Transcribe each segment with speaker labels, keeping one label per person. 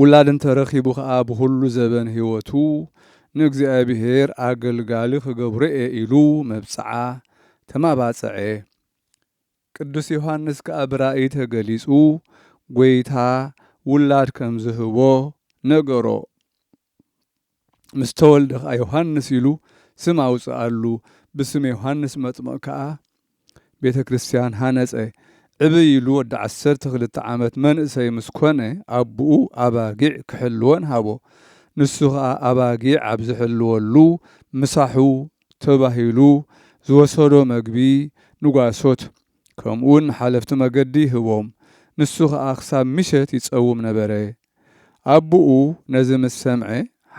Speaker 1: ውላድ እንተ ረኺቡ ኸኣ ብዅሉ ዘበን ህይወቱ ንእግዚኣብሄር ኣገልጋሊ ኽገብሮ'የ ኢሉ መብጽዓ ተማባጽዐ። ቅዱስ ዮሓንስ ከኣ ብራእይ ተገሊጹ ጐይታ ውላድ ከም ዝህቦ ነገሮ። ምስ ተወልደ ከኣ ዮሃንስ ኢሉ ስም ኣውጽኣሉ፣ ብስም ዮሃንስ መጥምቕ ከኣ ቤተ ክርስቲያን ሃነጸ። ዕብይ ኢሉ ወዲ ዓሰርተ ክልተ ዓመት መንእሰይ ምስ ኮነ ኣቡኡ ኣባጊዕ ክሕልወን ሃቦ። ንሱ ከኣ ኣባጊዕ ኣብ ዝሕልወሉ ምሳሑ ተባሂሉ ዝወሰዶ መግቢ ንጓሶት ከምኡውን ንሓለፍቲ መገዲ ይህቦም። ንሱ ከኣ ክሳብ ምሸት ይጸውም ነበረ። ኣቡኡ ነዚ ምስ ሰምዐ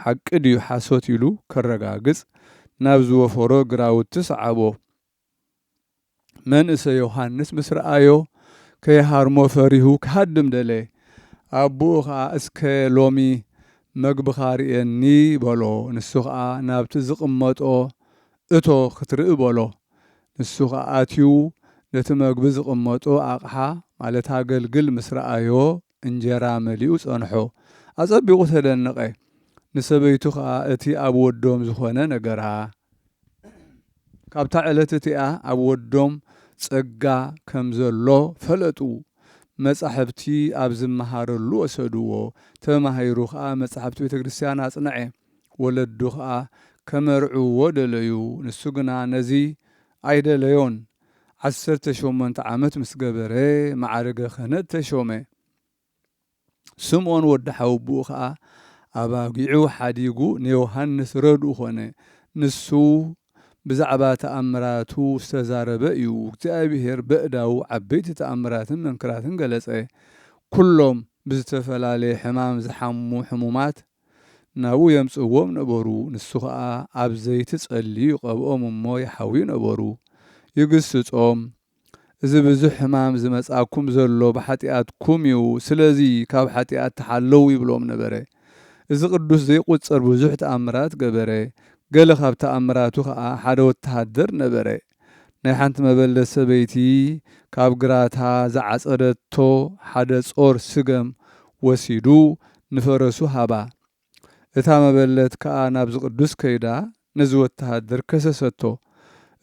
Speaker 1: ሓቂ ድዩ ሓሶት ኢሉ ከረጋግጽ ናብ ዝወፈሮ ግራውቲ ሰዓቦ። መንእሰይ ዮሃንስ ምስ ረኣዮ ከይሃርሞ ፈሪሁ ክሃድም ደለየ። ኣቡኡ ከኣ እስከ ሎሚ መግብኻ ርእየኒ በሎ። ንሱ ከኣ ናብቲ ዝቕመጦ እቶ ክትርኢ በሎ። ንሱ ከኣ ኣትዩ ነቲ መግቢ ዝቕመጦ ኣቕሓ ማለት ኣገልግል ምስ ረኣዮ እንጀራ መሊኡ ጸንሖ። ኣጸቢቑ ተደነቐ። ንሰበይቱ ኸኣ እቲ ኣብ ወዶም ዝዀነ ነገራ። ካብታ ዕለት እቲኣ ኣብ ወዶም ጸጋ ከም ዘሎ ፈለጡ። መጻሕፍቲ ኣብ ዝመሃረሉ ወሰድዎ። ተማሂሩ ኸኣ መጻሕፍቲ ቤተ ክርስትያን ኣጽንዐ። ወለዱ ኸኣ ከመርዕውዎ ደለዩ፣ ንሱ ግና ነዚ ኣይደለዮን። ዓሰርተ ሸሞንተ ዓመት ምስ ገበረ፣ መዓርገ ክህነት ተሾመ። ስምዖን ወዲ ሓወቦኡ ኸኣ ኣባጊዑ ሓዲጉ ንዮሃንስ ረድኡ ዀነ። ንሱ ብዛዕባ ተኣምራቱ ዝተዛረበ እዩ፣ እግዚኣብሄር በእዳዉ ዓበይቲ ተኣምራትን መንክራትን ገለጸ። ኵሎም ብዝተፈላለየ ሕማም ዝሓሙ ሕሙማት ናብኡ የምጽእዎም ነበሩ፣ ንሱ ኸኣ ኣብ ዘይቲ ጸልዩ ይቐብኦም እሞ ይሓውዩ ነበሩ፣ ይግስጾም፣ እዚ ብዙሕ ሕማም ዝመጽኣኩም ዘሎ ብሓጢኣትኩም እዩ፣ ስለዚ ካብ ሓጢኣት ተሓለዉ ይብሎም ነበረ። እዚ ቅዱስ ዘይቁጸር ብዙሕ ተኣምራት ገበረ፣ ገለ ካብ ተኣምራቱ ኸኣ ሓደ ወተሃደር ነበረ፣ ናይ ሓንቲ መበለት ሰበይቲ ካብ ግራታ ዝዓጸደቶ ሓደ ጾር ስገም ወሲዱ ንፈረሱ ሃባ። እታ መበለት ከኣ ናብዚ ቅዱስ ከይዳ ነዚ ወተሃደር ከሰሰቶ።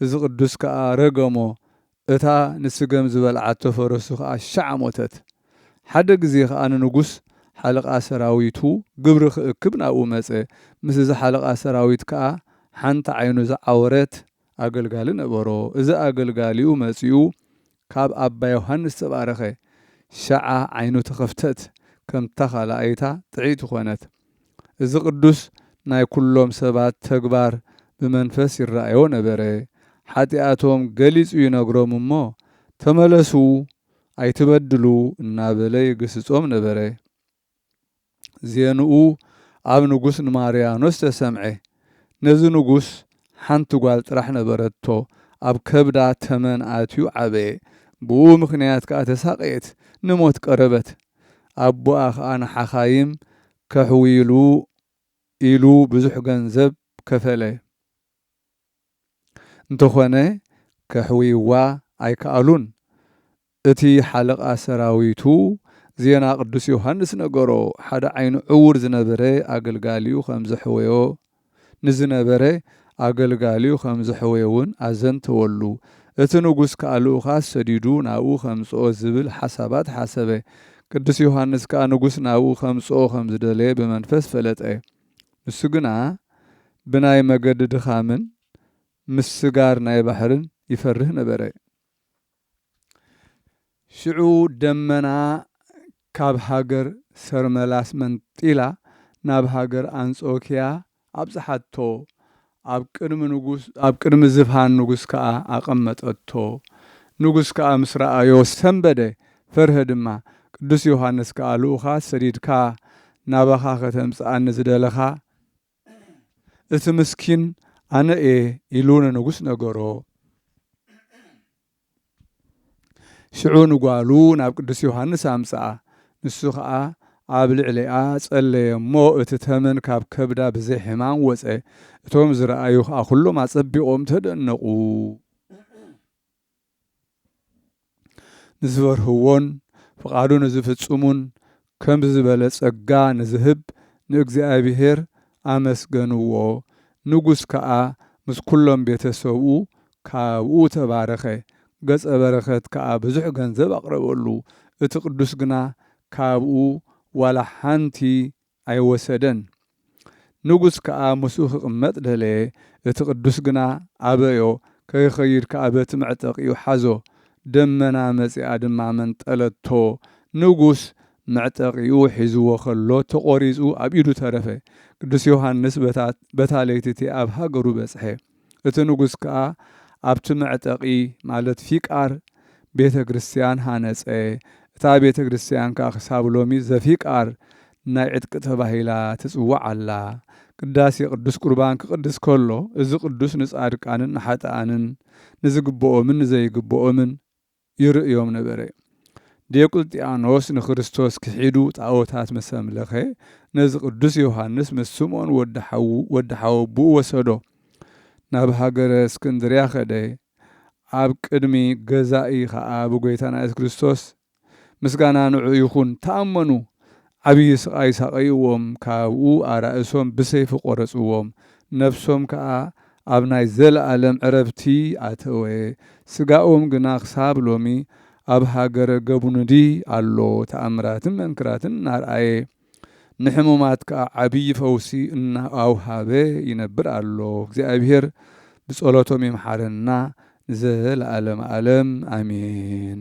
Speaker 1: እዚ ቅዱስ ከኣ ረገሞ፣ እታ ንስገም ዝበልዓቶ ፈረሱ ከኣ ሻዕ ሞተት። ሓደ ግዜ ከኣ ንንጉስ ሓለቓ ሰራዊቱ ግብሪ ክእክብ ናብኡ መጸ። ምስ እዚ ሓለቓ ሰራዊት ከኣ ሓንቲ ዓይኑ ዝዓወረት፣ ኣገልጋሊ ነበሮ፣ እዚ ኣገልጋሊኡ መጺኡ ካብ ኣባ ዮሓንስ ተባረኸ፣ ሸዓ ዓይኑ ተኸፍተት፣ ከምታ ካልኣይታ ጥዕይቲ ኮነት። እዚ ቅዱስ ናይ ኩሎም ሰባት ተግባር ብመንፈስ ይራኣዮ ነበረ፣ ሓጢኣቶም ገሊጹ ይነግሮም እሞ ተመለሱ ኣይትበድሉ እናበለ ይግስጾም ነበረ። ዜንኡ ኣብ ንጉስ ንማርያኖስ ተሰምዐ። ነዚ ንጉስ ሓንቲ ጓል ጥራሕ ነበረቶ፣ ኣብ ከብዳ ተመን ኣትዩ ዓበየ፣ ብእኡ ምኽንያት ከኣ ተሳቐየት፣ ንሞት ቀረበት። ኣቦኣ ኸኣ ንሓኻይም ከሕውይሉ ኢሉ ብዙሕ ገንዘብ ከፈለ። እንተኾነ ከሕውይዋ ኣይከኣሉን። እቲ ሓለቓ ሰራዊቱ ዜና ቅዱስ ዮሃንስ ነገሮ፣ ሓደ ዓይኑ ዕዉር ዝነበረ ኣገልጋሊኡ ኸም ዘሕወዮ፣ ንዝነበረ ኣገልጋሊኡ ኸም ዘሕወዮውን ኣዘንተወሉ። እቲ ንጉስ ከኣ ልኡኻት ሰዲዱ ናብኡ ኸምጽኦ ዚብል ሓሳባት ሓሰበ። ቅዱስ ዮሃንስ ከኣ ንጉስ ናብኡ ኸምጽኦ ኸም ዝደለየ ብመንፈስ ፈለጠ። ንሱ ግና ብናይ መገዲ ድኻምን ምስጋር ናይ ባሕርን ይፈርህ ነበረ። ሽዑ ደመና ካብ ሃገር ሰርመላስ መንጢላ ናብ ሃገር ኣንጾክያ ኣብጽሓቶ፣ ኣብ ቅድሚ ንጉስ ኣብ ቅድሚ ዝፋን ንጉስ ከኣ ኣቐመጠቶ። ንጉስ ከኣ ምስ ረኣዮ ሰንበደ፣ ፈርሀ ድማ። ቅዱስ ዮሓንስ ከኣ ልኡኻት ሰዲድካ ናባኻ ከተምጽኣኒ ዝደለኻ፣ እቲ ምስኪን ኣነ እየ ኢሉ ንንጉስ ነገሮ። ሽዑ ንጓሉ ናብ ቅዱስ ዮሃንስ ኣምጽኣ። ንሱ ኸኣ ኣብ ልዕሊኣ ጸለየ እሞ እቲ ተመን ካብ ከብዳ ብዘይ ሕማም ወጸ። እቶም ዝረኣዩ ኸኣ ኵሎም ኣጸቢቖም ተደነቑ። ንዝፈርህዎን ፍቓዱ ንዝፍጽሙን ከምዚ ዝበለ ጸጋ ንዝህብ ንእግዚኣብሄር ኣመስገንዎ። ንጉስ ከኣ ምስ ኵሎም ቤተ ሰብኡ ካብኡ ተባረኸ። ገጸ በረከት ከኣ ብዙሕ ገንዘብ ኣቕረበሉ፣ እቲ ቅዱስ ግና ካብኡ ዋላ ሓንቲ ኣይወሰደን። ንጉሥ ከኣ ምስኡ ኪቕመጥ ደለየ፣ እቲ ቅዱስ ግና ኣበዮ፣ ከይኸይድ ከኣ በቲ መዕጠቂኡ ሓዞ፣ ደመና መጺኣ ድማ መንጠለቶ፣ ንጉሥ መዕጠቂኡ ሒዝዎ ከሎ ተቖሪጹ ኣብ ኢዱ ተረፈ። ቅዱስ ዮሓንስ በታ ለይቲ እቲኣ ኣብ ሃገሩ በጽሐ። እቲ ንጉስ ከኣ ኣብቲ መዕጠቂ ማለት ፊቃር ቤተ ክርስትያን ሃነጸ፣ እታ ቤተ ክርስትያን ከኣ ክሳብ ሎሚ ዘፊቃር ናይ ዕጥቂ ተባሂላ ትጽዋዕ ኣላ። ቅዳሴ ቅዱስ ቁርባን ክቅድስ ከሎ እዚ ቅዱስ ንጻድቃንን ንሓጥኣንን ንዝግብኦምን ንዘይግብኦምን ይርእዮም ነበረ። ዲዮቅልጥያኖስ ንክርስቶስ ክሒዱ ጣኦታት ምስ ኣምለኸ፣ ነዚ ቅዱስ ዮሃንስ ምስ ስምኦን ወዲ ሓዉ ወዲ ሓወብኡ ወሰዶ። ናብ ሃገረ እስክንድርያ ከደ። ኣብ ቅድሚ ገዛኢ ኸኣ ብጐይታና ኢየሱስ ክርስቶስ፣ ምስጋና ንዕኡ ይኹን፣ ተኣመኑ። ዓብዪ ስቓይ ሳቐይዎም፣ ካብኡ ኣራእሶም ብሰይፊ ቈረጽዎም፣ ነፍሶም ከኣ ኣብ ናይ ዘለኣለም ዕረፍቲ ኣተወ፣ ስጋኦም ግና ክሳብ ሎሚ ኣብ ሃገረ ገቡኑዲ ኣሎ፣ ተኣምራትን መንክራትን እናርኣየ፣ ንሕሙማት ከኣ ዓብዪ ፈውሲ እናኣውሃበ ይነብር ኣሎ፣ እግዚኣብሄር ብጸሎቶም ይምሓረና ንዘለኣለመ ኣለም ኣሜን።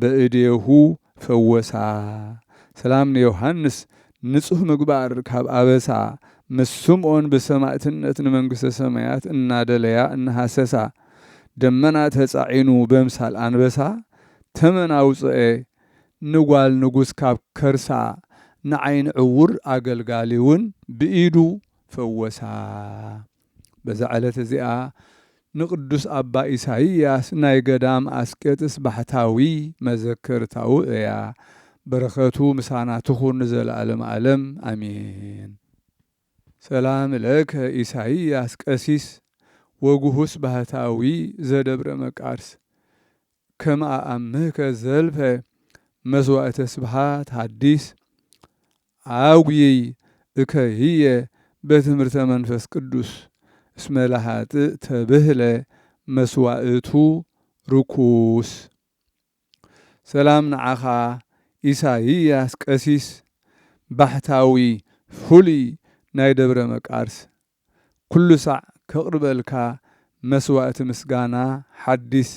Speaker 1: በእዴሁ ፈወሳ ሰላም ንዮሓንስ ንጹህ ምግባር ካብ ኣበሳ ምስ ስምኦን ብሰማእትነት ንመንግስተ ሰማያት እናደለያ እናሃሰሳ ደመና ተጻዒኑ በምሳል ኣንበሳ ተመን ኣውጽኤ ንጓል ንጉስ ካብ ከርሳ ንዓይኒ ዕዉር ኣገልጋሊውን ብኢዱ ፈወሳ። በዛ ዕለት እዚኣ ንቅዱስ ኣባ ኢሳይያስ ናይ ገዳም ኣስቄጥስ ባሕታዊ መዘከርታኡ እያ። በረከቱ ምሳና ትኹን ንዘለዓለም ኣለም ኣሜን። ሰላም ለከ ኢሳይያስ ቀሲስ ወግሁስ ባህታዊ ዘደብረ መቃርስ ከም ኣኣምህከ ዘልፈ መስዋእተ ስብሓት ሀዲስ ዓጉይይ እከ ህየ በትምህርተ መንፈስ ቅዱስ እስመ ለኃጥእ ተብህለ መስዋእቱ ርኩስ። ሰላም ንዓኻ ኢሳይያስ ቀሲስ ባሕታዊ ፍሉይ ናይ ደብረ መቃርስ ኩሉ ሳዕ ከቕርበልካ መስዋእቲ ምስጋና ሓዲስ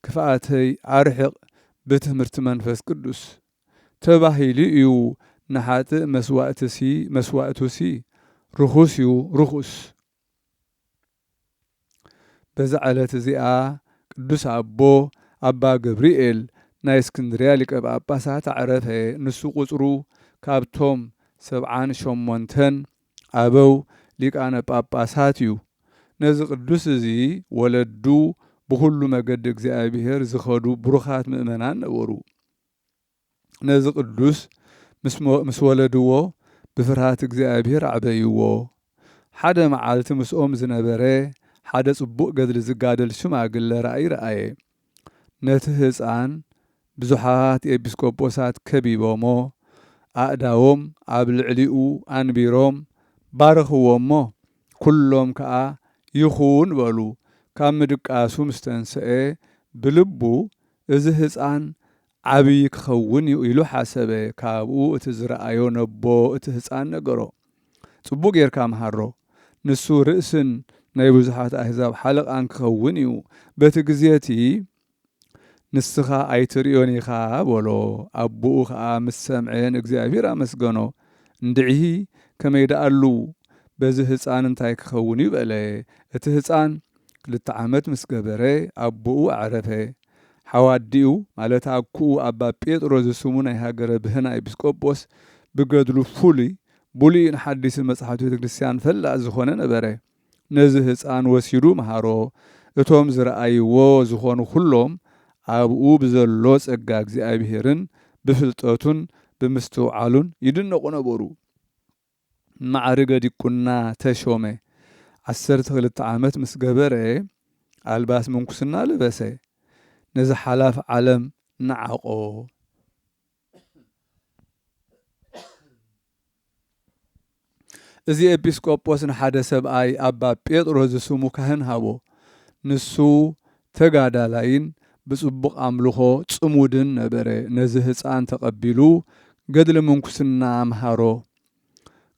Speaker 1: ክፍኣተይ ኣርሕቕ ብትምህርቲ መንፈስ ቅዱስ ተባሂሉ እዩ ንሓጥእ መስዋእትሲ መስዋእቱሲ ርኹስ እዩ ርኹስ። በዛ ዕለት እዚኣ ቅዱስ ኣቦ ኣባ ገብርኤል ናይ እስክንድርያ ሊቀ ጳጳሳት ኣዕረፈ። ንሱ ቍጽሩ ካብቶም ሰብዓን ሸሞንተን ኣበው ሊቃነ ጳጳሳት እዩ። ነዚ ቅዱስ እዚ ወለዱ ብዅሉ መገዲ እግዚኣብሔር ዝኸዱ ብሩኻት ምእመናን ነበሩ። ነዚ ቅዱስ ምስ ወለድዎ ብፍርሃት እግዚኣብሔር ኣዕበይዎ። ሓደ መዓልቲ ምስኦም ዝነበረ ሓደ ጽቡቕ ገድሊ ዝጋደል ሽማግለ ራእይ ረኣየ። ነቲ ህጻን ብዙሓት ኤጲስቆጶሳት ከቢቦሞ ኣእዳዎም ኣብ ልዕሊኡ ኣንቢሮም ባረኽዎ እሞ ኩሎም ከኣ ይኹን በሉ። ካብ ምድቃሱ ምስ ተንሰኤ ብልቡ እዚ ህጻን ዓብዪ ክኸውን እዩ ኢሉ ሓሰበ። ካብኡ እቲ ዝረኣዮ ነቦ እቲ ህጻን ነገሮ። ጽቡቕ ጌርካ ምሃሮ። ንሱ ርእስን ናይ ብዙሓት ኣህዛብ ሓለቓን ክኸውን እዩ። በቲ ግዜ እቲ ንስኻ ኣይትርእዮን ኢኻ በሎ። ኣቦኡ ኸኣ ምስ ሰምዐ ንእግዚኣብሄር ኣመስገኖ። እንድዒ ከመይ ደኣሉ በዚ ህጻን እንታይ ክኸውን እዩ በለ። እቲ ህጻን ክልተ ዓመት ምስ ገበረ ኣቦኡ ኣዕረፈ። ሓው ኣዲኡ ማለት ኣኩኡ ኣባ ጴጥሮስ ዝስሙ ናይ ሃገረ ብህና ኤጲስቆጶስ ብገድሉ ፍሉይ ብሉይን ሓዲስን መጻሕፍቲ ቤተ ክርስቲያን ፈላጥ ዝኾነ ነበረ። ነዚ ህጻን ወሲዱ መሃሮ። እቶም ዝረኣይዎ ዝኾኑ ኩሎም ኣብኡ ብዘሎ ጸጋ እግዚኣብሔርን ብፍልጠቱን ብምስትውዓሉን ይድነቑ ነበሩ። ማዕርገ ዲቁና ተሾመ። ዓሰርተ ክልተ ዓመት ምስ ገበረ ኣልባስ ምንኩስና ለበሰ። ነዚ ሓላፍ ዓለም ነዓቖ። እዚ ኤጲስቆጶስ ንሓደ ሰብኣይ ኣባ ጴጥሮስ ዝስሙ ካህን ሃቦ። ንሱ ተጋዳላይን ብጽቡቕ ኣምልኾ ጽሙድን ነበረ። ነዚ ህጻን ተቐቢሉ ገድሊ ምንኩስና ኣምሃሮ።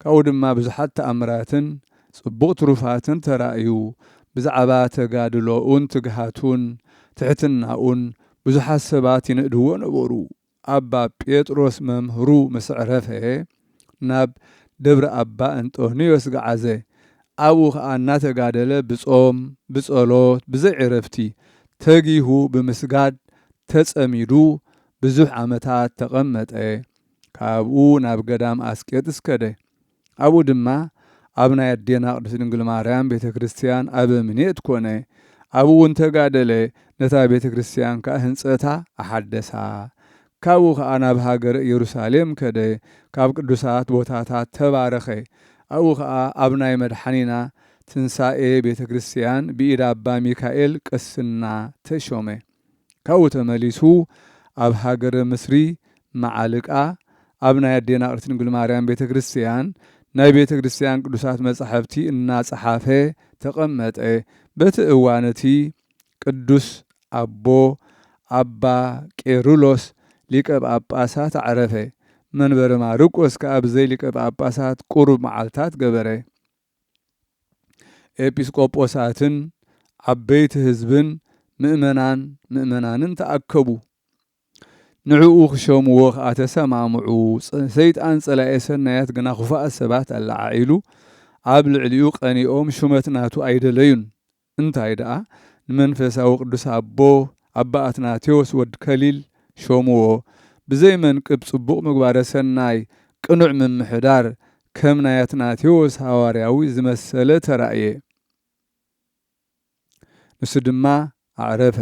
Speaker 1: ካብኡ ድማ ብዙሓት ተኣምራትን ጽቡቕ ትሩፋትን ተራእዩ። ብዛዕባ ተጋድሎኡን ትግሃቱን ትሕትናኡን ብዙሓት ሰባት ይንእድዎ ነበሩ። ኣባ ጴጥሮስ መምህሩ ምስ ዕረፈ ናብ ደብረ ኣባ እንጦንዮስ ገዓዘ። ኣብኡ ከኣ እናተጋደለ ብጾም ብጸሎት ብዘይዕረፍቲ ተጊሁ ብምስጋድ ተጸሚዱ ብዙሕ ዓመታት ተቐመጠ። ካብኡ ናብ ገዳም ኣስቄጥስ ከደ። ኣብኡ ድማ ኣብ ናይ ኣዴና ቅድስት ድንግል ማርያም ቤተ ክርስቲያን ኣበምኔት ኮነ። ኣብኡ እውን ተጋደለ፣ ነታ ቤተ ክርስቲያን ከኣ ህንጸታ ኣሓደሳ። ካብኡ ከኣ ናብ ሃገረ ኢየሩሳሌም ከደ፣ ካብ ቅዱሳት ቦታታት ተባረኸ። ኣብኡ ከኣ ኣብ ናይ መድሓኒና ትንሣኤ ቤተ ክርስቲያን ብኢድ ኣባ ሚካኤል ቅስና ተሾመ። ካብኡ ተመሊሱ ኣብ ሃገረ ምስሪ መዓልቃ ኣብ ናይ ኣዴና ቅድስት ድንግል ማርያም ቤተ ክርስቲያን ናይ ቤተ ክርስቲያን ቅዱሳት መጻሕፍቲ እናጸሓፈ ተቐመጠ። በቲ እዋን እቲ ቅዱስ ኣቦ ኣባ ቄርሎስ ሊቀ ጳጳሳት ኣዕረፈ። መንበረ ማርቆስ ከኣ ብዘይ ሊቀ ጳጳሳት ቁሩብ መዓልታት ገበረ። ኤጲስቆጶሳትን ዓበይቲ ህዝብን ምእመናን ምእመናንን ተኣከቡ። ንዕኡ ክሸምዎ ከኣ ተሰማምዑ። ሰይጣን ጸላኤ ሰናያት ግና ኹፋኣት ሰባት ኣለዓዒሉ ኣብ ልዕሊኡ ቀኒኦም ሹመት ናቱ ኣይደለዩን። እንታይ ደኣ ንመንፈሳዊ ቅዱስ ኣቦ ኣባ ኣትናቴዎስ ወድ ከሊል ሾምዎ ብዘይ መንቅብ ጽቡቕ ምግባረ ሰናይ ቅኑዕ ምምሕዳር ከም ናይ ኣትናቴዎስ ሃዋርያዊ ዝመሰለ ተራእየ ንሱ ድማ ኣዕረፈ።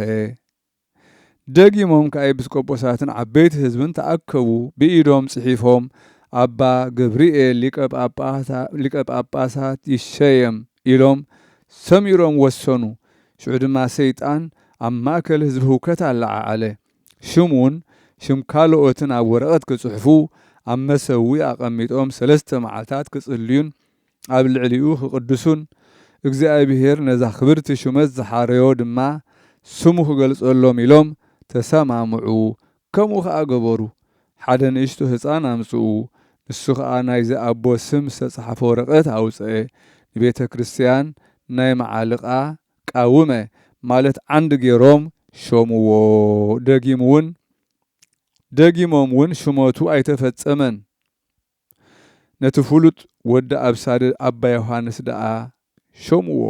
Speaker 1: ደጊሞም ከኣ ኤጲስቆጶሳትን ዓበይቲ ሕዝብን ተኣከቡ፣ ብኢዶም ጽሒፎም፣ ኣባ ገብርኤል ሊቀ ጳጳሳት ይሸየም ኢሎም ሰሚሮም ወሰኑ። ሽዑ ድማ ሰይጣን ኣብ ማእከል ሕዝቢ ህውከት ኣለዓዓለ። ሽሙን ሽም ካልኦትን ኣብ ወረቐት ክጽሕፉ ኣብ መሰውኢ ኣቐሚጦም ሰለስተ መዓልታት ክጽልዩን ኣብ ልዕሊኡ ክቕድሱን እግዚኣብሄር ነዛ ክብርቲ ሹመት ዝሓረዮ ድማ ስሙ ክገልጸሎም ኢሎም ተሰማምዑ፣ ከምኡ ኸኣ ገበሩ። ሓደ ንእሽቶ ህጻን ኣምጽኡ፣ ንሱ ኸኣ ናይዚ ኣቦ ስም ዝተጻሕፈ ወረቐት ኣውጽኤ፣ ንቤተ ክርስትያን ናይ መዓልቓ፣ ቃውመ፣ ማለት ዓንዲ ገይሮም ሾምዎ፣ ደጊምውን ደጊሞምውን ሹመቱ ኣይተፈጸመን። ነቲ ፍሉጥ ወዲ ኣብሳሪ ኣባ ዮሃንስ ደኣ ሾምዎ።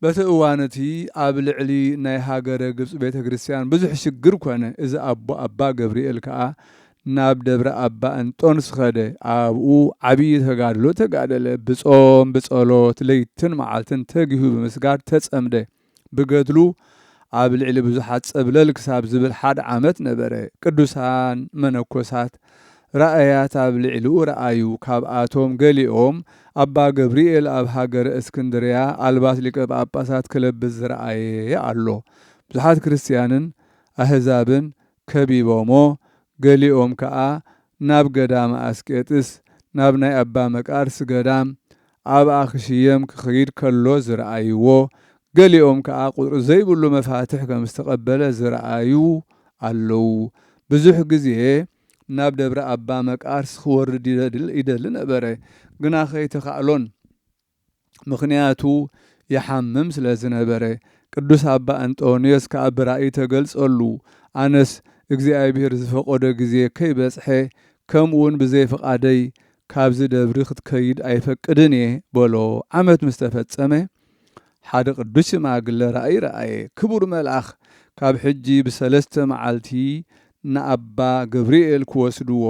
Speaker 1: በቲ እዋን እቲ ኣብ ልዕሊ ናይ ሃገረ ግብጺ ቤተ ክርስቲያን ብዙሕ ሽግር ኮነ። እዚ ኣቦ ኣባ ገብርኤል ከኣ ናብ ደብረ ኣባ እንጦንስ ኸደ። ኣብኡ ዓብዪ ተጋድሎ ተጋደለ። ብጾም ብጸሎት ለይትን መዓልትን ተጊሁ ብምስጋድ ተጸምደ። ብገድሉ ኣብ ልዕሊ ብዙሓት ጸብለል ክሳብ ዝብል ሓደ ዓመት ነበረ። ቅዱሳን መነኮሳት ራእያት ኣብ ልዕሊኡ ረኣዩ። ካብኣቶም ገሊኦም ኣባ ገብርኤል ኣብ ሃገረ እስክንድርያ ኣልባስ ሊቀ ጳጳሳት ክለብስ ዝረኣየ ኣሎ። ብዙሓት ክርስትያንን ኣህዛብን ከቢቦሞ ገሊኦም ከኣ ናብ ገዳመ ኣስቄጥስ ናብ ናይ ኣባ መቃርስ ገዳም ኣብኣ ክሽየም ክኽይድ ከሎ ዝረኣይዎ ገሊኦም ከኣ ቁጽሪ ዘይብሉ መፋትሕ ከም ዝተቀበለ ዝረኣዩ ኣለዉ ብዙሕ ግዜ ናብ ደብረ ኣባ መቃርስ ክወርድ ይደሊ ነበረ ግና ከይተካእሎን ምኽንያቱ ይሓምም ስለ ዝነበረ ቅዱስ ኣባ እንጦንዮስ ከኣ ብራእይ ተገልጸሉ ኣነስ እግዚኣብሔር ዝፈቀዶ ግዜ ከይበጽሐ ከምኡውን ብዘይ ፍቃደይ ካብዚ ደብሪ ክትከይድ ኣይፈቅድን እየ በሎ ዓመት ምስ ተፈጸመ ሓደ ቅዱስ ሽማግለ ራእይ ረኣየ ክቡር መልኣኽ ካብ ሕጂ ብሰለስተ መዓልቲ ንኣባ ገብርኤል ክወስድዎ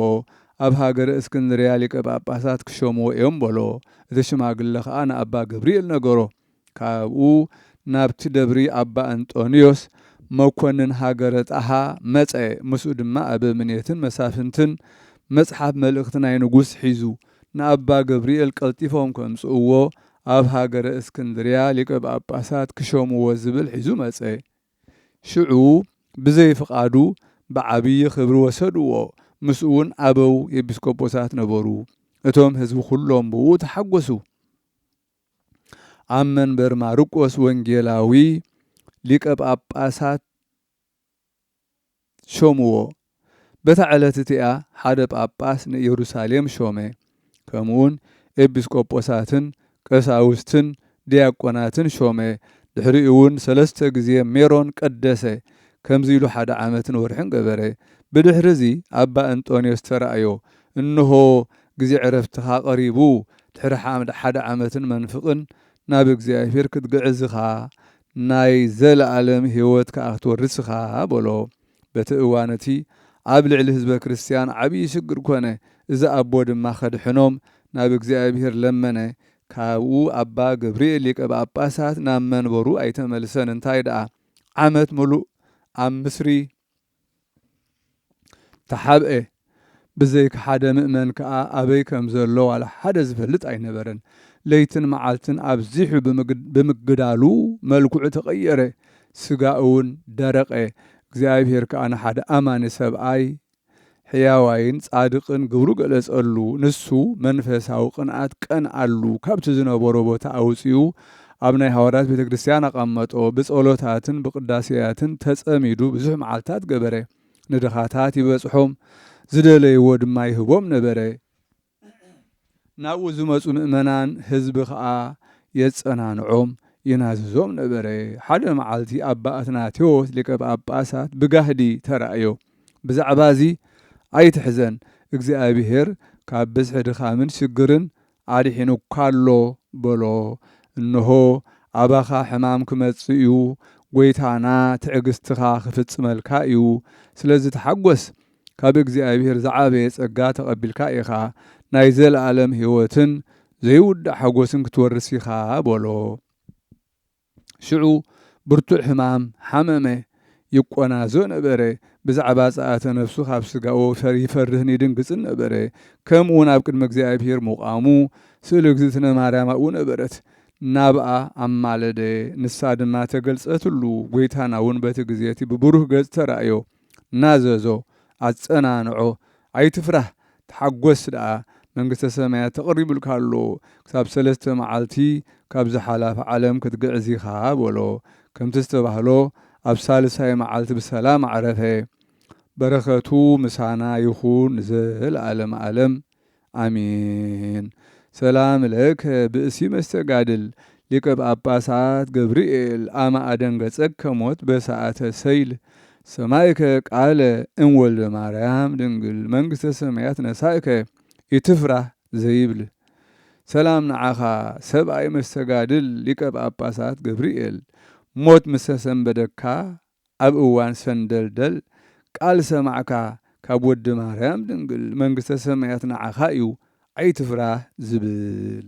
Speaker 1: ኣብ ሃገረ እስክንድርያ ሊቀ ጳጳሳት ክሸምዎ እዮም በሎ። እቲ ሽማግለ ከኣ ንኣባ ገብርኤል ነገሮ። ካብኡ ናብቲ ደብሪ ኣባ እንጦንዮስ መኰንን ሃገረ ጣሃ መጸ፣ ምስኡ ድማ ኣበምኔትን መሳፍንትን መጽሓፍ መልእኽቲ ናይ ንጉሥ ሒዙ። ንኣባ ገብርኤል ቀልጢፎም ከምጽእዎ ኣብ ሃገረ እስክንድርያ ሊቀ ጳጳሳት ክሸምዎ ዝብል ሒዙ መጸ። ሽዑ ብዘይ ፍቓዱ ብዓብዪ ኽብሪ ወሰድዎ፣ ምስኡውን ኣበው ኤጲስቆጶሳት ነበሩ፣ እቶም ሕዝቢ ዅሎም ብእኡ ተሓጐሱ። ኣብ መንበር ማርቆስ ወንጌላዊ ሊቀ ጳጳሳት። ሾምዎ። በታ ዕለት እቲኣ ሓደ ጳጳስ ንኢየሩሳሌም ሾመ፣ ከምኡውን ኤጲስቆጶሳትን ቀሳውስትን ዲያቆናትን ሾመ፣ ድሕሪኡውን ሰለስተ ግዜ ሜሮን ቀደሰ፣ ከምዚ ኢሉ ሓደ ዓመትን ወርሕን ገበረ። ብድሕርዚ ኣባ እንጦንዮስ ተራእዮ፣ እንሆ፣ ግዜ ዕረፍትኻ ቀሪቡ፣ ድሕሪ ሓደ ዓመትን መንፍቕን ናብ እግዚኣብሄር ክትግዕዝ ኢኻ፣ ናይ ዘለኣለም ህይወት ከኣ ክትወርስ ኢኻ በሎ። በቲ እዋን እቲ ኣብ ልዕሊ ህዝበ ክርስትያን ዓብዪ ሽግር ኮነ፣ እዚ ኣቦ ድማ ከድሕኖም ናብ እግዚኣብሄር ለመነ። ካብኡ ኣባ ገብርኤል ሊቀ ጳጳሳት ናብ መንበሩ ኣይተመልሰን፣ እንታይ ደኣ ዓመት ምሉእ ኣብ ምስሪ ተሓብኤ። ብዘይካ ሓደ ምእመን ከኣ ኣበይ ከም ዘሎ ዋላ ሓደ ዝፈልጥ ኣይነበረን። ለይትን መዓልትን ኣብዚሑ ብምግዳሉ መልክዑ ተቐየረ፣ ስጋኡውን ደረቐ። እግዚኣብሄር ከኣ ንሓደ ኣማኒ ሰብኣይ ሕያዋይን ጻድቕን ግብሩ ገለጸሉ። ንሱ መንፈሳዊ ቅንኣት ቀንኣሉ፣ ካብቲ ዝነበሮ ቦታ ኣውጺኡ ኣብ ናይ ሃዋርያት ቤተ ክርስቲያን ኣቐመጦ፣ ብጸሎታትን ብቅዳሴያትን ተጸሚዱ ብዙሕ መዓልትታት ገበረ፣ ንድኻታት ይበጽሖም፣ ዝደለይዎ ድማ ይህቦም ነበረ። ናብኡ ዝመጹ ምእመናን ህዝቢ ከኣ የጸናንዖም ይናዝዞም ነበረ። ሓደ መዓልቲ ኣባ ኣትናቴዎስ ሊቀ ጳጳሳት ብጋህዲ ተራእዮ። ብዛዕባዚ ኣይትሕዘን እግዚኣብሔር ካብ ብዝሒ ድኻምን ሽግርን ኣድሒኑካ ኣሎ በሎ። እንሆ ኣባኻ ሕማም ክመጽእ እዩ፣ ጐይታና ትዕግስትኻ ክፍጽመልካ እዩ፣ ስለዚ ተሓጐስ ካብ እግዚኣብሔር ዝዓበየ ጸጋ ተቐቢልካ ኢኻ፣ ናይ ዘለኣለም ሕይወትን ዘይውዳእ ሓጐስን ክትወርስ ኢኻ በሎ። ሽዑ ብርቱዕ ሕማም ሓመመ፣ ይቈናዞ ነበረ፣ ብዛዕባ ጸኣተ ነፍሱ ኻብ ስጋኡ ይፈርህን ይድንግጽን ነበረ፣ ከምኡውን ኣብ ቅድሚ እግዚኣብሔር ምቛሙ ስእሊ እግዝእትነ ማርያም ኣብኡ ነበረት፣ ናብኣ ኣማለደ፣ ንሳ ድማ ተገልጸትሉ፣ ጐይታናውን በቲ ግዜ እቲ ብብሩህ ገጽ ተራእዮ። ናዘዞ ኣጸናንዖ ኣይትፍራህ ተሓጎስ ደኣ መንግስተ ሰማያት ተቐሪቡልካ ኣሎ ክሳብ ሰለስተ መዓልቲ ካብዛ ሓላፊ ዓለም ክትግዕዝ ኢኻ በሎ ከምቲ ዝተባህሎ ኣብ ሳልሳይ መዓልቲ ብሰላም ኣዕረፈ በረከቱ ምሳና ይኹን ንዘለኣለመ ኣለም ኣሜን ሰላም ለከ ብእሲ መስተጋድል ሊቀ ጳጳሳት ገብርኤል ኣመ ኣደንገጸከ ሞት በሰዓተ ሰይል ሰማይከ ቃለ እም ወልደ ማርያም ድንግል መንግስተ ሰማያት ነሳእከ ኢትፍራህ ዘይብል ሰላም ንዓኻ ሰብኣይ መስተጋድል ሊቀ ጳጳሳት ገብርኤል ሞት ምሰሰንበደካ ኣብ እዋን ሰንደልደል ቃል ሰማዕካ ካብ ወዲ ማርያም ድንግል መንግስተ ሰማያት ንዓኻ እዩ ኣይትፍራህ ዝብል።